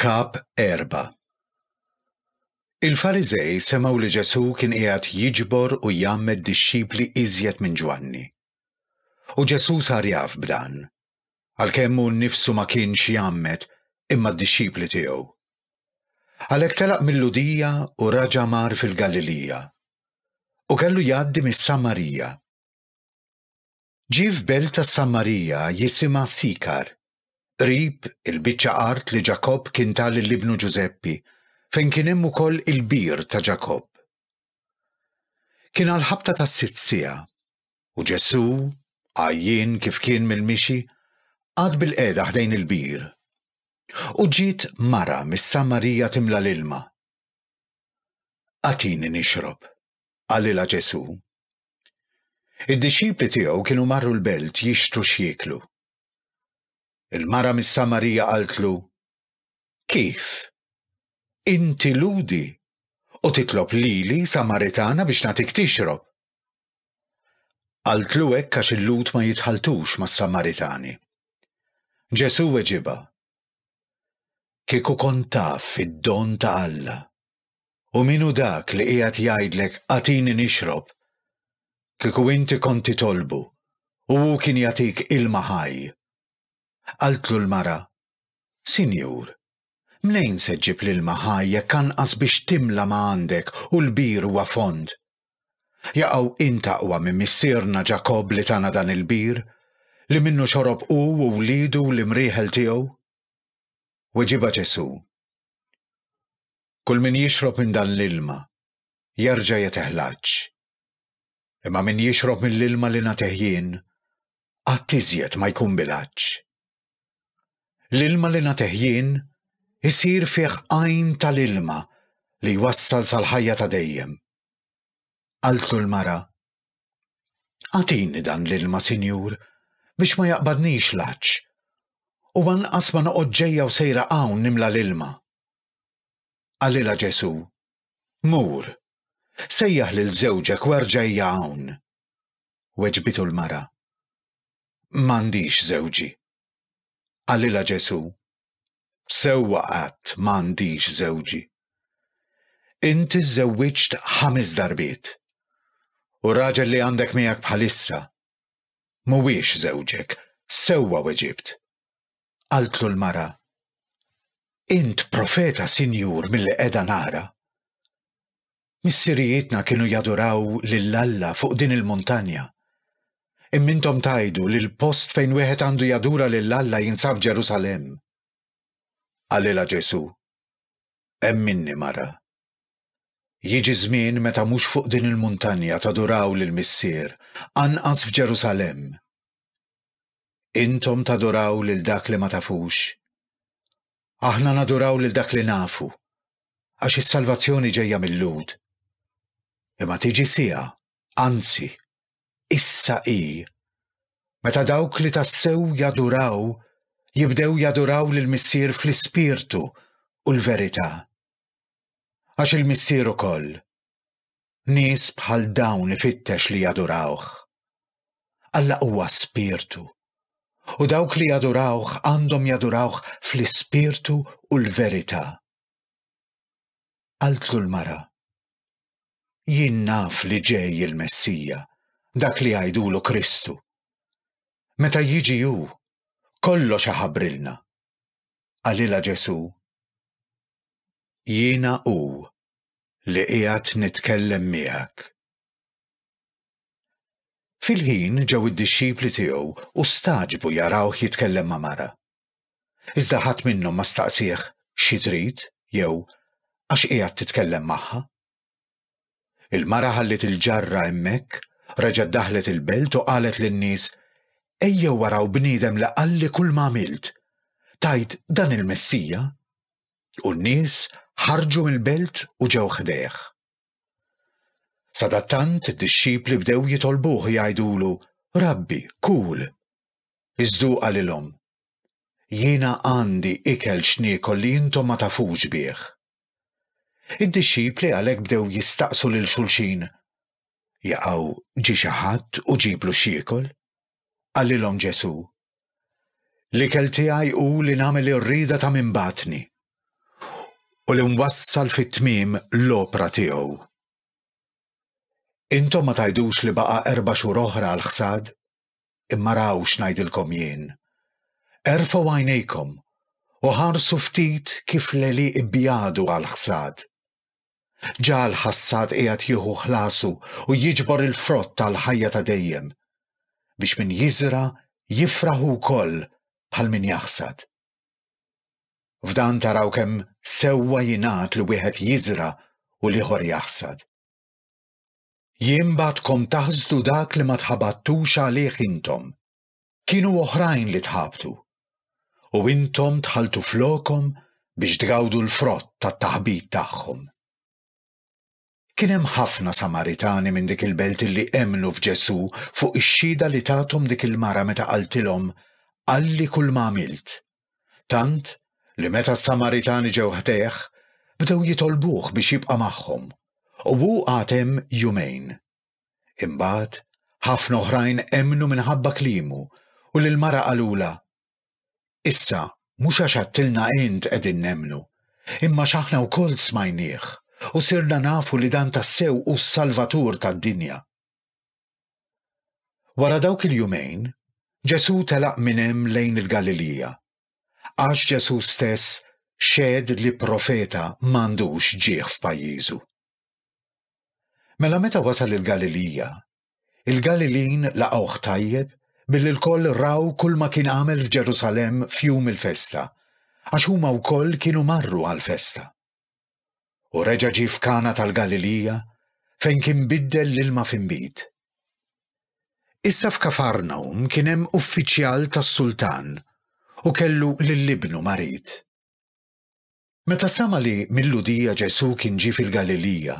Kap 4 Il-Fariżej semgħu li Ġesù kien qiegħed jiġbor u jgħammed dixxipli iżjed minn Ġwanni. U Ġesù sar jaf b'dan, għalkemm hu nnifsu ma kienx jgħammed imma d-dixxipli tiegħu. Għalhekk telaq mill-Ludija u raġa' mar fil-Galilija. U kellu jgħaddi mis-Samarija. Ġie f'belt tas-Samarija jisimha Sikar, qrib il-biċċa art li Ġakobb kien ta lil ibnu Ġużeppi, fejn kien hemm ukoll il-bir ta' Ġakobb. Kien għall-ħabta tas-sitt siegħa, u Ġesù, għajjien kif kien mill-mixi, qagħad bilqiegħda ħdejn il-bir. U ġiet mara mis-Samarija timla l-ilma. Agħtini nixrob, qalilha Ġesù. Id-dixxipli tiegħu kienu marru l-belt jixtru x'jieklu. Il-mara mis-Samarija qaltlu, Kif? Inti ludi u titlob lili Samaritana biex nagħtik tixrob. Qaltlu hekk għax il-Lud ma jitħaltux mas-Samaritani. Ġesù weġiba, Kieku kont taf id-don ta' Alla U min hu dak li qiegħed jgħidlek agħtini nixrob? Kieku inti kont titolbu, u hu kien jagħtik ilma ħaj. Qaltlu l-mara, Sinjur, mnejn se ġġib l-ilma ħaj jekk anqas biex timla ma għandek u l-bir huwa fond? Jaqgħu int aqwa minn missierna Ġakobb li tana dan il-bir, li minnu xorob hu u wliedu u l-imrieħel tiegħu? Weġibha Ġesù, Kull min jixrob minn dan l-ilma jerġa' jeteh l-għatx. Imma min jixrob mill-ilma li nagħtih jien, qatt iżjed ma jkun bil-għatx. L-ilma li nagħtih jien isir fih għajn tal-ilma li jwassal sal-ħajja ta' dejjem. Qaltlu l-mara, Agħtini dan l-ilma, Sinjur, biex ma jaqbadnix l-għatx, u anqas ma noqgħod ġejja u sejra hawn nimla l-ilma. Qalilha Ġesù, Mur, sejjaħ lil żewġek u erġajja hawn. Weġbitu l-mara, M'għandix żewġi. Qalilha Ġesù, Sewwa qatt m'għandix żewġi. Inti żżewwiġt ħames darbiet. U raġel li għandek miegħek bħalissa mhuwiex żewġek, sewwa weġibt. qaltlu l-mara, Int profeta, Sinjur, milli qiegħda nara. Missirijietna kienu jaduraw lil Alla fuq din il-muntanja. Imma intom tajdu li l-post fejn wieħed għandu jadura lil Alla jinsab Ġerusalemm. Qalilha Ġesu, Hemm minni mara. Jiġi żmien meta mhux fuq din il-muntanja taduraw lill-Missier, anqas f'Ġerusalemm. Intom taduraw lil dak li ma tafux. Aħna naduraw lil dak li nafu, għax is-salvazzjoni ġejja mil-Lhud. Imma tiġi siegħa, anzi, issa hi, meta dawk li tassew jaduraw jibdew jaduraw lill-Missier fl-ispirtu u l-verità. Għax il-Missier ukoll, Nies bħal dawn ifittex li jadurawh. Alla huwa spirtu. U dawk li jadurawh għandhom jadurawh fl-ispirtu u l-verità. Qaltlu l-mara. Jien naf li ġej il-Messija, dak li għajdulu Kristu. Meta jiġi hu, kollox aħabrilna. Qalilha Ġesù. Jiena hu, li qiegħed nitkellem miegħek. Fil-ħin ġew id-dixxipli tiegħu u stagħġbu jarawh jitkellem ma' mara. Iżda ħadd minnhom ma staqsih xi trid jew għax qiegħed titkellem magħha. Il-mara ħalliet il-ġarra hemmhekk, reġgħet daħlet il-belt u qalet lin-nies, Ejjew waraw bniedem li qalli kull ma għamilt. Tajt dan il-Messija? u n-nies ħarġu mill-belt u ġew ħdejh. Sadattant id-dixxipli bdew jitolbuh jgħidulu, Rabbi, kul! Iżdu qalilhom, Jiena għandi ikel x'niekol li intom ma tafux bih. Id-dixxipli għalhekk bdew jistaqsu lil xulxin, Jaqgħu ġi xi ħadd u ġiblu x'jiekol? Qalilhom Ġesù, L-ikel tiegħi hu li nagħmel ir-rieda ta' min bagħatni u li nwassal fit-tmiem l-opra tiegħu. Intom ma tgħidux li baqa' erba' xhur oħra għall-ħsad? Imma raw x'ngħidilkom jien. Erfgħu għajnejkom u ħarsu ftit kif l-għelieq ibjadu għall-ħsad. Ġa l-ħassad qiegħed jieħu ħlasu u jiġbor il-frott tal-ħajja ta' dejjem, biex min jiżra' jifraħ hu wkoll bħal min jaħsad. F'dan taraw kemm sewwa jingħad li wieħed jiżra' u l-ieħor jaħsad. Jien bagħtkom taħsdu dak li ma tħabattux għalih intom. Kienu oħrajn li tħabtu, u intom dħaltu flokhom biex tgawdu l-frott tat-taħbit tagħhom. Kien hemm ħafna Samaritani minn dik il-belt li emmnu f'Ġesù fuq ix-xhieda li tathom dik il-mara meta qaltilhom, Qalli kull ma għamilt. Tant li meta s-Samaritani ġew ħdejh, bdew jitolbuh biex jibqa' magħhom, u hu qagħad hemm jumejn. Imbagħad, ħafna oħrajn emmnu minħabba kliemu u lill-mara qalulha, Issa, mhux għax għadtilna int qegħdin nemmnu, imma x'aħna wkoll smajnieh u sirna nafu li dan tassew hu s-Salvatur tad-dinja. Wara dawk il-jumejn, Ġesù telaq minn hemm lejn il-Galilija. Għax Ġesù stess xehed li profeta m'għandux ġieħ f'pajjiżu. Mela meta wasal il-Galilija, il-Galilin laqgħuh tajjeb billi l-koll raw kull ma kien għamel f'Ġerusalem f'jum il-festa, għax huma wkoll kienu marru għal-festa. U reġa' ġie f'Kana tal-Galilija fejn kien biddel l-ilma f'imbid. Issa f'Kafarnaum kien hemm uffiċjal tas-sultan u kellu lil ibnu marid. Meta sema' li mil-Lhudija Ġesù kien ġie fil-Galilija,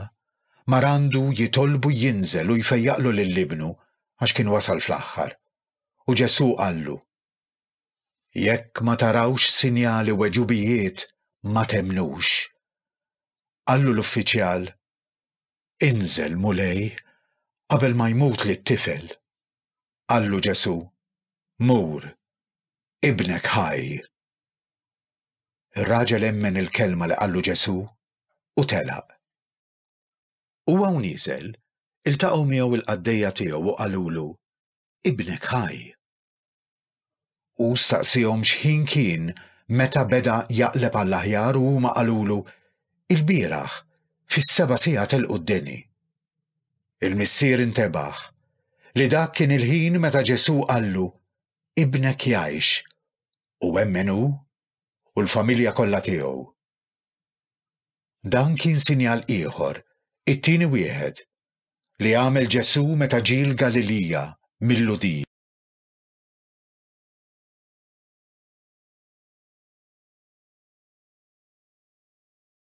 mar għandu jitolbu jinżel u jfejjaqlu lil ibnu għax kien wasal fl-aħħar. U Ġesù qallu, Jekk ma tarawx sinjali u għeġubijiet, ma temmnux. Qallu l-uffiċjal, Inżel, Mulej, qabel ma jmutli t-tifel. Qallu Ġesù, Mur, ibnek ħaj. Ir-raġel emmen il-kelma li qallu Ġesù u telaq. Huwa u nieżel, iltaqgħu miegħu l-qaddejja tiegħu u qalulu, Ibnek ħaj. Hu staqsiehom x'ħin kien meta beda jaqleb għall-aħjar u huma qalulu, Ilbieraħ, fis-seba' siegħa telqu d-deni. Il-missier intebaħ li dak kien il-ħin meta Ġesù qallu, Ibnek jgħix, u emmen hu u l-familja kollha tiegħu. Dan kien sinjal ieħor, it-tieni wieħed, li għamel Ġesù meta ġie l-Galilija mill-Lhudija.